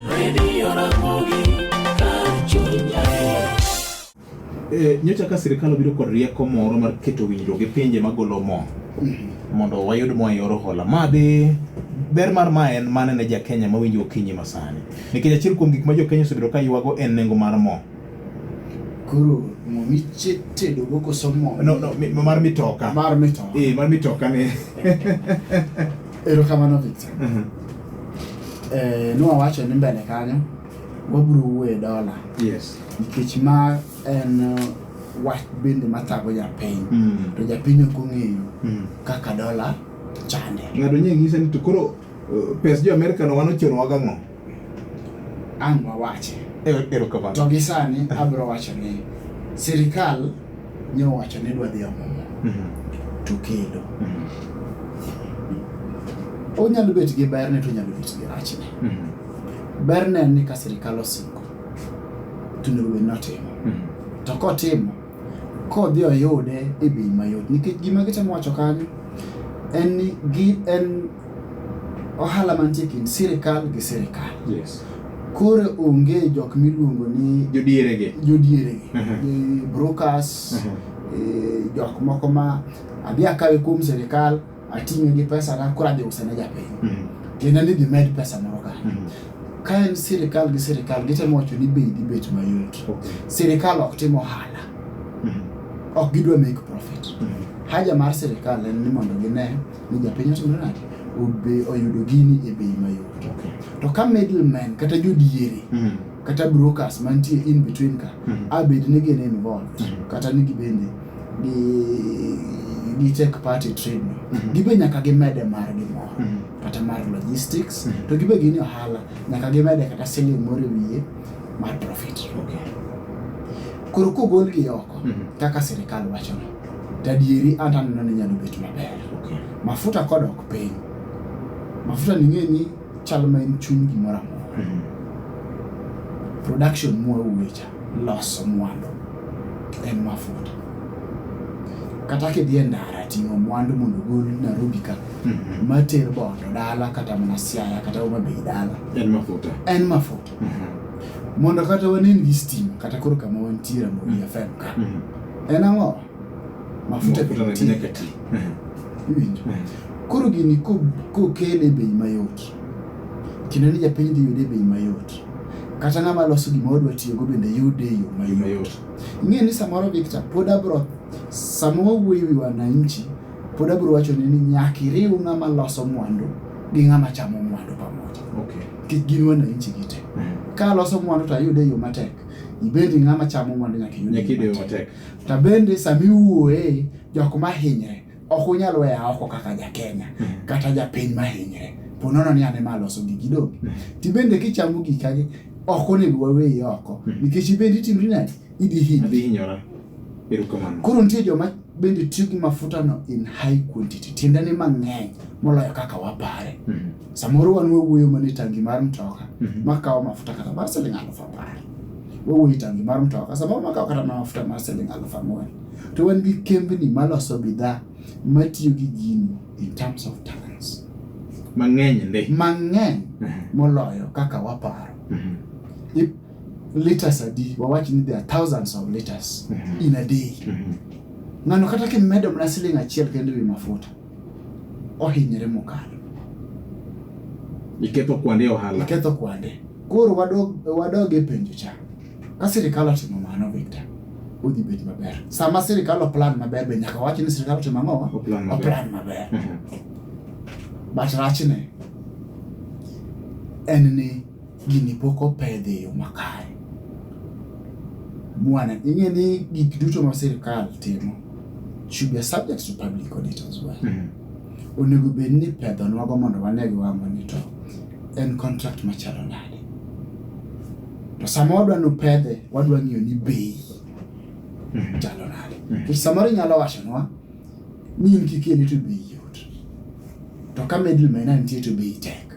Radio Ramogi, kar chuny adier. Eh, nyocha ka sirkal obiro kod rieko moro mar keto winjruok gi pinje magolo mo mondo wayud mo e yor hola ma dhi ber mar ma en mane ne jakenya mawinjo okinyi masani nikech achiel kuom gik ma jokenya osebedo ka ywago en nengo mar mo koro mo mitedogo koso mo no, no, mi- mar mitoka mar mito Eh, mar mitoka ni Erokamano Victor. Mhm. Eh, nwawacho ni mbele kanyo wabiro wuoye dola Yes. nikech ma en eh, wach bende mathago japiny Mm. to japiny ok ong'eyo Mm. kaka dola chande Ng'ato nye ng'ise ni to koro uh, pes jo Amerika no wan ochunowa gang'o? ang' wawache. E- Erokamano. To gi sani abiro wacho ni sirikal nyowacho ni dwa dhi omumo Mhm, to kendo mhm, onyalo bet gi berne to onyalo bet gi rachne. mhm, Berne en ni ka sirikal osingo to onego bed ni otimo. mhm. To kotimo kodhi oyude e bei mayot nikech gima gitemo wacho kanyo en ni gi en ohala mantie kind sirikal gi sirikal. Yes. Koro onge jok miluongo ni jodierege, jodierege, uh mhm. -huh. brokers, uh mhm. -huh. e, jok moko ma adhi akawe kuom sirikal ating'e gi pesa na koro adhi use ne japiny. Uh mhm. -huh. Tiende ni gimed pesa moro ka. Uh -huh. Ka en sirikal gi sirikal gitemo wacho ni bei dhi bet mayot. Okay. Sirikal ok timo ohala. Uh -huh. Ok gidwa make profit. Uh -huh. Haja mar sirikal en ni mondo gine ni japiny otimo nade obe oyudo gini e bei mayot to ka middleman kata jodiere mm. kata brokers mantie in between ka mm. abed ni gin involved mm. kata ni gibende gi gi take part e trade no mm-hmm. gibe nyaka gimede margi moro mm-hmm. kata mar logistics mm-hmm. to gibe gini ohala nyaka gimede kata siling moro e wiye mar profit koro kogolgi oko kaka sirikal wachono Tadieri an taneno ni nyalo bet maber. Okay. Mafuta kodok piny. Mafuta ni ng'e ni chal ma en chuny gimoro amora. Mm -hmm. Production mwa uwecha loso mwandu en mafuta. Kata kidhi e ndara ting'o mwandu mondo ogol Nairobi ka mm -hmm. mater bondo dala kata mana Siaya kata Homa Bay dala. En mafuta. En mafuta. Mm -hmm. Mondo kata wanen gi stima kata koro kama wantiere Ramogi mm -hmm. FM ka. Mm -hmm. En ang'o? Mafuta nyakati. Iwinjo? Koro gini kokele bei mayot, kendo ni japiny dhi yude bei mayot kata ng'ama loso gima odwa tiyogo bende yude e yo mayot. Ing'e ni samoro Victor, pod abro sama wawuoyo wi wananchi, pod abro wacho ni nyaka iriw ng'ama loso mwandu gi ng'ama chamo mwandu pamoja. Okay. Kik gin wananchi gite. Mm. Ka loso mwandu to ayude e yo matek. ibed ng'ama chamo mwandu nyaka iyud matek to bende sama iwuoye jok ma hinyre ok unyal weya oko kaka jakenya hmm. kata japiny ma hinyre po nono ni ane ma aloso gigi donge hmm. ti bende kichamo gikagi ok onego waweyi oko hmm. nikech ibende itimri nadi idhi hinyora koro nitie joma bende tiyo gi mafutano in high quantity tiende ni mang'eny moloyo kaka wapare Samoro wan wawuoyo mana e tangi mar mtoka mhm. makawo mafuta kata mar siling' aluf apar. Wawuoyo e tangi mar mtoka samoro makawo kata mana mafuta mar siling' aluf ang'wen. To wan gi kembni maloso bidhaa matiyo gi gini in terms of tons. Mang'eny ndi. Mang'eny mhm. moloyo kaka waparo. Mhm. Liters adi, wawach ni there are thousands of liters in a day. Ng'ano kata kimedo mana siling' achiel kende wi mafuta. ohinyre mokalo. Iketho kwande ohala. Iketho kwande. Koro wadog wadog e penjo cha. Ka sirikal otimo mano Victor, udhi bet maber. Sama sirikal oplan maber be nyaka wach ni sirikal otimo ang'o? Oplan maber. Oplan maber. But rachne en ni gini pok opedh e yo makare. Mwana, ing'e ni gik duto ma sirkal timo should be subject to public audit as well. Mm -hmm. Onego bed ni pedho nwago mondo wane gi wang'wa ni to en contract machalo nade. To sama wadwa ni upedhe, wadwa ng'iyo ni bei mhm. chalo nade. Mhm. To samoro inyalo wachonwa ni in kikeli to bei yot. To ka middleman nitie to bei tek.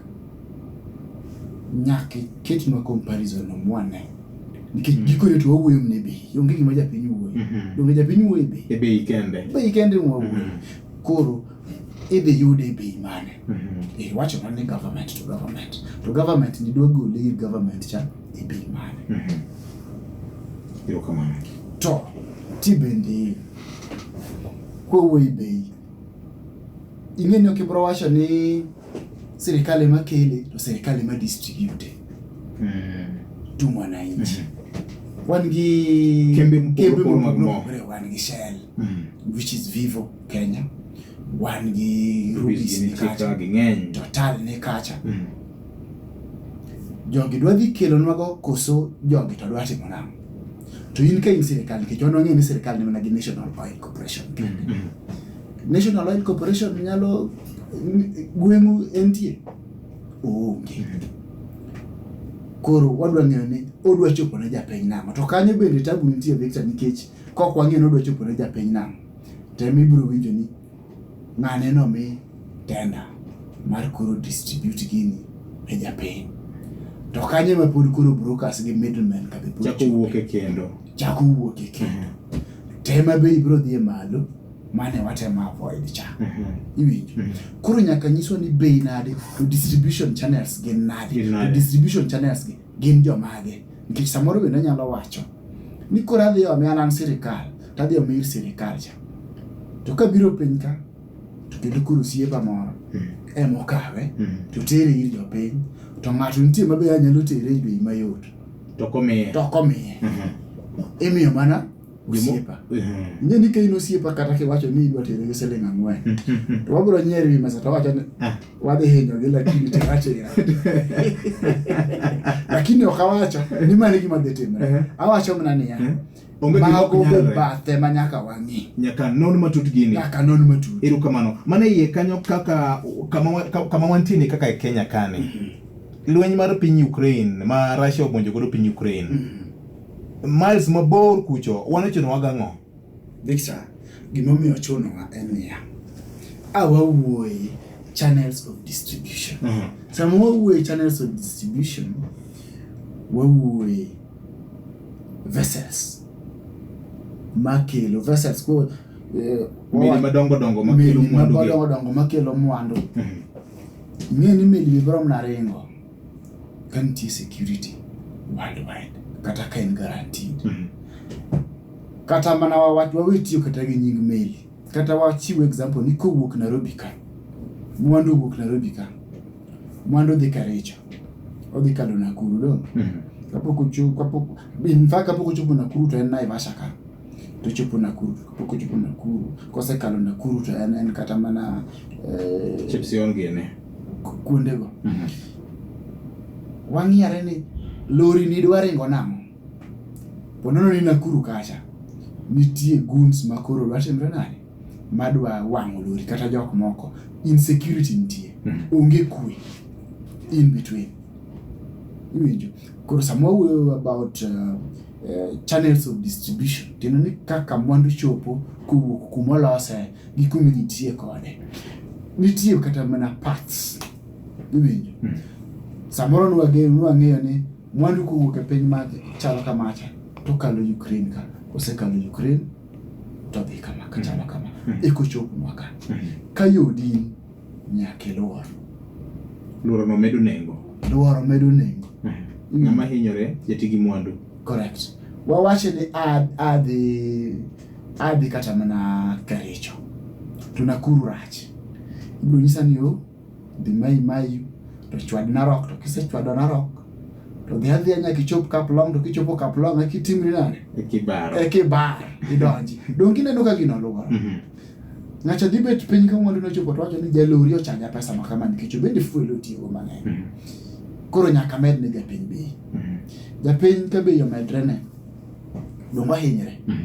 Nyaka iketnwa comparison no mwane. Nikech mm. gikone to wawuoyo mne bei. Onge gima japiny wuoyo. Mm-hmm. Donge japiny wuoyo e bei? E bei kende. Bei kende wawuoyo. Mm. Koro idhi yude e bei mane? Mm-hmm. Eh, wacho na ni government to government. To government ni dwa gole ir government cha e bei mane? Mm-hmm. Ero kamano. To ti bende kowuoyo e bei ing'eni ok ibro wacho ni Serikali ema kele to serikali ema distribute mm. to mwananchi mm -hmm. wan gi kembe mopogore wan gi Shell mm -hmm. which is Vivo Kenya wan gi Rubis ni kacha Total ni kacha mm -hmm jogi dwa dhi kelonwago koso jogi to dwa timo nang'o to in ka in sirikal nikech wan wang'eyo ni sirikal ne mana gi national oil corporation kende mm -hmm. National Oil Corporation nyalo gweng'u entie? Onge. Koro wadwa ng'eyo ni odwa chopo ne japiny nang'o. To kanyo bende tabu nitie Victor nikech kok wang'eyo ni odwa chopo ne japiny nang'o to ema ibiro winjo ni ng'ane nomi tenda mar koro distribute gini ne japiny. To kanyo ema pod koro brokers gi middlemen ka be pod Chako wuok e kendo. chako wuok e kendo. Tema be ibiro dhi e malo. mane watemo avoid cha mhm. iwinjo mhm. koro nyaka nyiswa ni bei nade to distribution channels gin nade to distribution channels gi gin jomage nikech samoro bende anyalo wacho ni koro adhi omi anan sirikal to adhi omi ir sirikal cha to kabiro piny ka to kendo koro siepa moro mhm. emokawe to tere ir jopiny to ng'ato nitie mabe anyalo tere e bei mayot to komiye imiyo mana osiepa ing'e ni kain osiepa kata kiwacho ni idwa tere gi siling ang'wen to wabiro nyier wi mesa to wacho ni ah. wadhi hinyogi lakini tiwachira lakini ok awacho ni mani gima dhi timre eh. awacho mana niya eh. mago be bathe ma nyaka wang'i nyaka non matut gini nyaka non matut ero kamano mana iye kanyo kaka kama wantie ni kaka e kenya kani mm-hmm. lweny mar piny ukraine ma russia omonjo godo piny ukraine mm-hmm. Miles mabor kucho, wan ichunowa gang'o? Victor, gimomiyo ochunowa en niya, a wawuoye channels of distribution. Mhm. Sama wawuoye channels of distribution, wawuoye vessels makelo vessels ko eh, Meli wawa- madongo dongo makelo meli mwandu gi. madongo dongo makelo mwandu Mhm. ing'e ni meli bibrom na ringo ka nitie security worldwide kata ka en guaranteed mm -hmm. kata mana wawach wawe tiyo kata gi nying meli kata wachiw example ni kowuok Nairobi ka mwandu owuok Nairobi ka mwandu odhi Karicho odhi kalo Nakuru dong mm -hmm. kapok ochopo in fact kapok ochopo Nakuru to en Naivasha ka to ochopo Nakuru to kapok ochopo Nakuru kosekalo Nakuru to en en kata mana eh, Chepsion gini. ku- kuondego wang'iyare ni lori ni dwa ringo nang'o ponono ni Nakuru kacha nitie guns ma koro dwa timre nade ma dwa wang'o lori kata jok moko insecurity nitie Mhm. onge kwe in between iwinjo Koro sama wawuoyo about uh, uh, channels of distribution tiende ni kaka mwandu chopo kowuok kuma olose gi kuma nitie kode nitie kata mana parts iwinjo mm. samoro nwang'eyo ni mwandu kowuok e piny ma chalo kamacha to kalo Ukraine ka osekalo Ukraine to dhi kama kachalo kama mm. ekochopnwa ka mm. ka yodini Nyaka iluor. Luoro no medo nengo. Luoro medo nengo. Mm. Ng'ama hinyore jati gi mwandu. Correct. Wawache ni adhi adhi kata mana Kericho to Nakuru rach. Ibiro nyisa ni o oh, dhi mayi mayi to chwad Narok to kisechwado Narok to dhi adhiya nyaka ichop Kaplong to kichopo Kaplong eki timri nade? Eki bar. Eki bar idonji. Donge ineno ka gino luoro. Mm-hmm. Ng'acha dhi bet piny ka mwandu nochopo to wacho ni jalori ochaja pesa ma kama nikech obende fuel otiyogo mang'eny. Mm. Koro nyaka med ne japiny bei. Mm. Japiny ka bei omedre ne dongo ahinyre. Mm.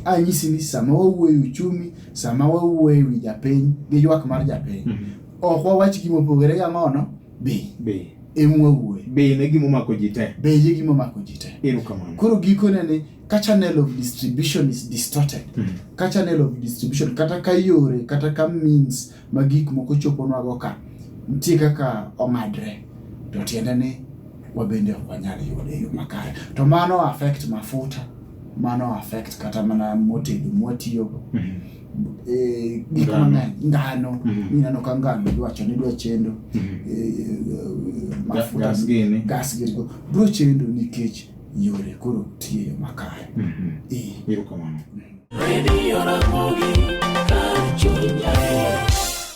Anyisi ni sama wawuoyo uchumi, sama wawuoyo ewi japiny gi ywak mar japiny, mm. ok wawach gima opogore ga ngono bei. Bei. Emu wawuoyo. Bei ne gima omako ji te. Bei e gima omako ji te. Erokamano. Koro gikone ni ka channel of distribution is distorted mm. ka channel of distribution kata ka yore kata ka means ma gik moko choponwago ka nitie kaka ong'adre to tiende ni wabende ok wanyal yude e yo makare to mano affect mafuta mano affect kata mana motedo mwatiyogo mm -hmm. e, gik mang'eny ngano mm -hmm. ineno ka ngano idwacho ni idwa chendo mm -hmm. e, e, mafuta gas gini bro chendo nikech yore koro tiyo yo makare. Erokamano. Radio Ramogi kar chuny